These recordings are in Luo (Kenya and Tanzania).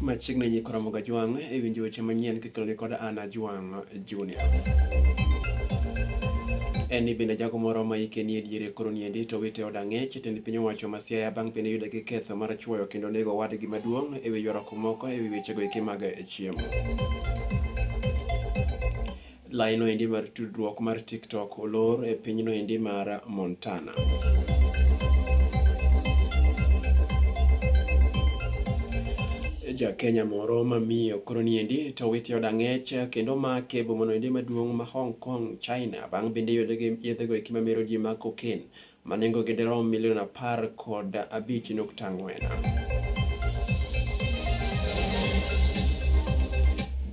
machiegni nyi Koromogo Ajwang' e winjo weche manyien kikelogi kod Anna Ajwang' Junior. En ni bende jago moro ma ike nie diere koro niendi to wite od ang'ech jatend piny owacho ma Siaya bang' piny yude gi ketho mar chuoyo kendo nego owadgi maduong' e wi ywaruok moko e wi wechego eki mag chiemo. Laino endi mar tudruok mar TikTok olor e pinyno endi mar Montana. ja Kenya moro ma miyo koro niendi to witi oda ng'ech kendo make bomono endi maduong' ma Hong Kong, China bang' bende yedhe go eki mamero ji ma cocaine ma nengogi dirom milion apar kod abich nukta ang'wen.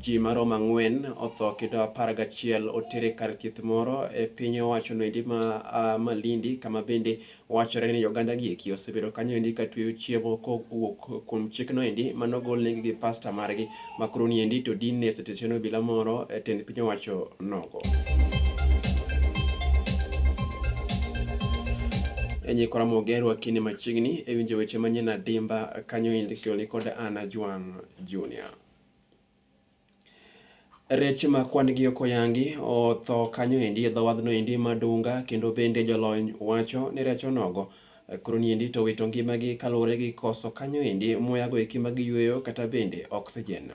Ji marom ang'wen otho kendo apar gachiel otere kar thieth moro e piny owacho noendi ma uh, Malindi kama bende wachore ni oganda gieki osebedo kanyo endi ka tweyo chiemo kowuok kuom chik noendi manogolnegi gi pasta margi Makuru ni endi to din ne seteshono obila moro e tend piny owacho nogo. enye kora mogerwa kinde machiegni e winjo weche manyien adimba kanyo indikoli kod Anna Juan Junior. Rech ma kwan gi ok oyangi otho kanyo endi e dhowadhno endi madunga kendo bende jolony wacho ni rech onogo Koro niendi to wito ngimagi kaluwore gi koso kanyo endi muyago eki ma giyueyo kata bende oxygen.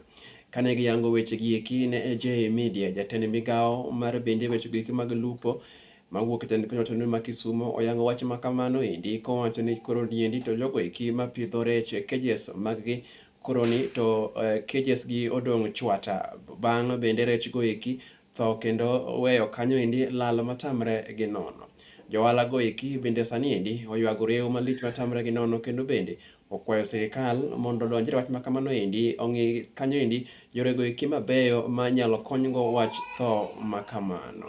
Kane giyango weche gi eki ne AJ Media, jatend migawo mar bende weche gi eki mag lupo mawuok e tend piny wacho ma Kisumo oyango wach ma kamano endi kowacho ni koro niendi to jogo eki ma pidho rech e cages mag gi koroni to uh, eh, cages gi odong' chwata bang' bende rech go eki tho kendo weyo kanyo endi lal matamre gi nono. Johala go eki bende sani endi oywago rewo malich matamre gi nono kendo bende okwayo sirikal mondo odonjre wach makamano endi ong'i kanyo endi yore go eki mabeyo manyalo konygo wach tho makamano.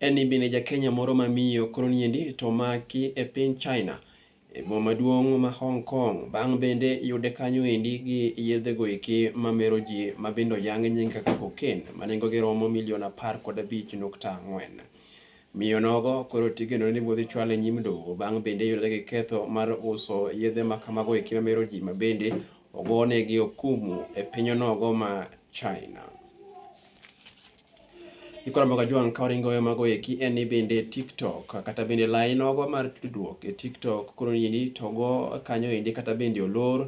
En ni bende ja Kenya moro ma miyo koro niendi to maki e piny China e boma maduong' ma Hong Kong bang' bende yude kanyo endi gi yedhe go eki ma mero ji ma bende oyang nying kaka cocaine ma nengo gi romo milion apar kod abich nukta ang'wen. Miyo nogo koro tigeno ni bodhi chwal e nyim doho bang' bende yudore gi ketho mar uso yedhe ma kamago eki ma mero ji ma bende ogonegi okumu e piny onogo ma China. Gikoro mboga jwang' ka waringo e mago eki en ni bende TikTok kata bende lai nogo mar tudruok e TikTok koro endi to go kanyo endi kata bende olor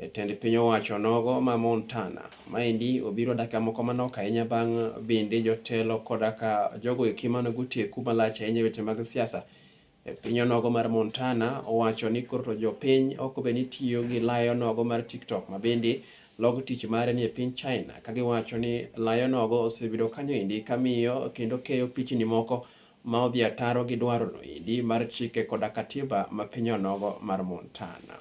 e tend piny owacho nogo ma Montana. Maendi obiro dakika moko manok ahinya bang' bende jotelo koda ka jogo eki mane goteku malach ahinya e weche mag siasa E piny onogo mar Montana, owacho ni koro to jopiny ok obe ni tiyo gi layo nogo mar TikTok ma bende log tich mare ni e piny China, ka giwacho ni layo nogo osebedo kanyo endi kamiyo kendo keyo pichni moko ma odhi ataro gi dwaro no endi mar chike koda katiba ma piny onogo mar Montana.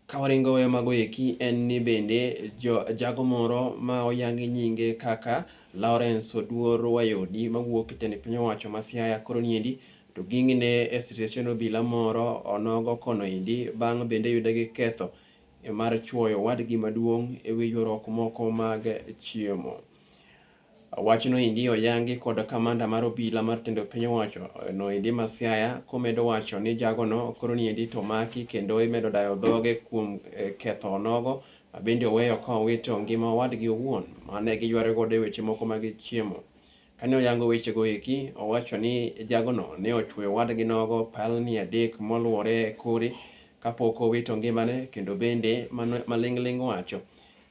Kawaringo weyo mago eki en ni bende jo, jago moro ma oyangi nyinge kaka Lawrence Oduor Wayodi mawuok e tend piny owacho ma Siaya koro niendi to ging'ine e sitesen obila moro onogo kono endi bang' bende yude gi ketho mar chuoyo wadgi maduong' ewi ywaruok moko mag chiemo. Wachno endi oyangi kod kamanda mar obila mar tendo piny owacho no endi ma Siaya komedo wacho ni jagono koro ni endi to maki kendo imedo dayo dhoge kuom eh, ketho onogo mabende oweyo ka owito ngima owadgi owuon mane giyware godo e weche moko mag chiemo. Kane oyango wechego eki, owacho ni jagono ne ochweyo owadgi nogo palni adek moluwore e kore kapok owito ngimane kendo bende mano- maling'ling' wacho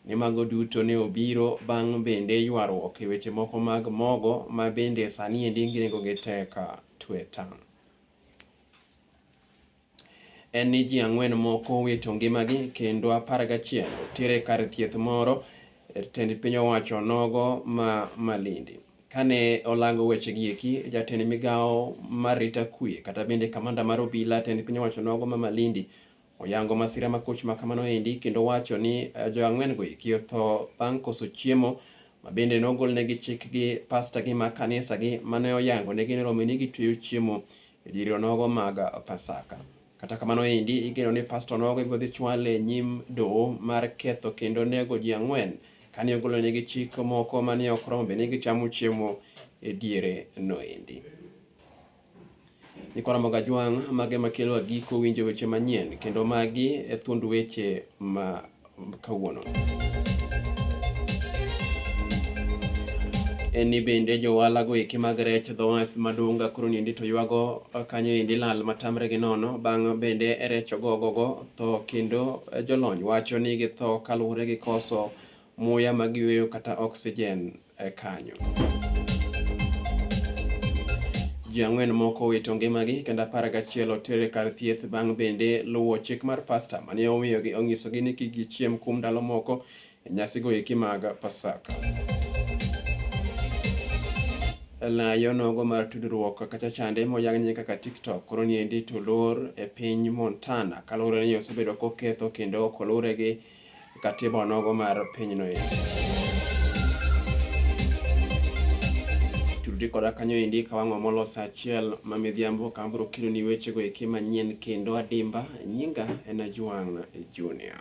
ni mago duto ne obiro bang' bende ywaruok e weche moko mag mogo ma bende sani endi nengogi tek tweta. En ni ji ang'wen moko owito ngimagi kendo apar gachiel tere kar thieth moro e tend piny owacho nogo ma Malindi. Kane olango weche gi eki, jatend migawo mar rita kwe kata bende kamanda mar obila tend piny owacho nogo ma Malindi Oyango masira makoch ma kamano endi kendo wacho ni eh, jo ang'wen go eki otho bang' koso chiemo ma bende nogolnegi chik gi pasta gi ma kanisa gi mane oyango negi ni romini gitweyo chiemo e diere onogo mag Pasaka. Kata kamano endi igeno ni pasta onogo ibiro dhi chwale e nyim doho mar ketho kendo nego ji ang'wen kane ogolonegi chik moko mane ok romo bende gichamo chiemo e diere no endi. Jokaramogo Ajwang' mage ema kelo agiko winjo weche manyien kendo magi e thuond weche ma kawuono. en ni bende johala go eki mag rech dho wath madunga koro niendi to ywago kanyo endi lal matamre gi nono bang' bende rech ogogogo tho kendo jolony wacho ni githo kaluwore gi koso muya ma giyweyo kata oxygen e kanyo. Ji ang'wen moko owito ngimagi kendo apar gachiel otere kar thieth bang' bende luwo chik mar pasta mane omiyogi onyisogi ni kik gichiem kuom ndalo moko e nyasigo eki mag Pasaka. Layo nogo mar tudruok kata chande moyang nying kaka TikTok koro niendi to lor e piny Montana kaluwore ni osebedo koketho kendo kolure gi katiba onogo mar pinyno endi. Turudi koda kanyo endi ka wang'o molosa achiel ma midhiambo ka abiro keloni wechego eki manyien kendo adimba. Nyinga en Ajwang' Junior.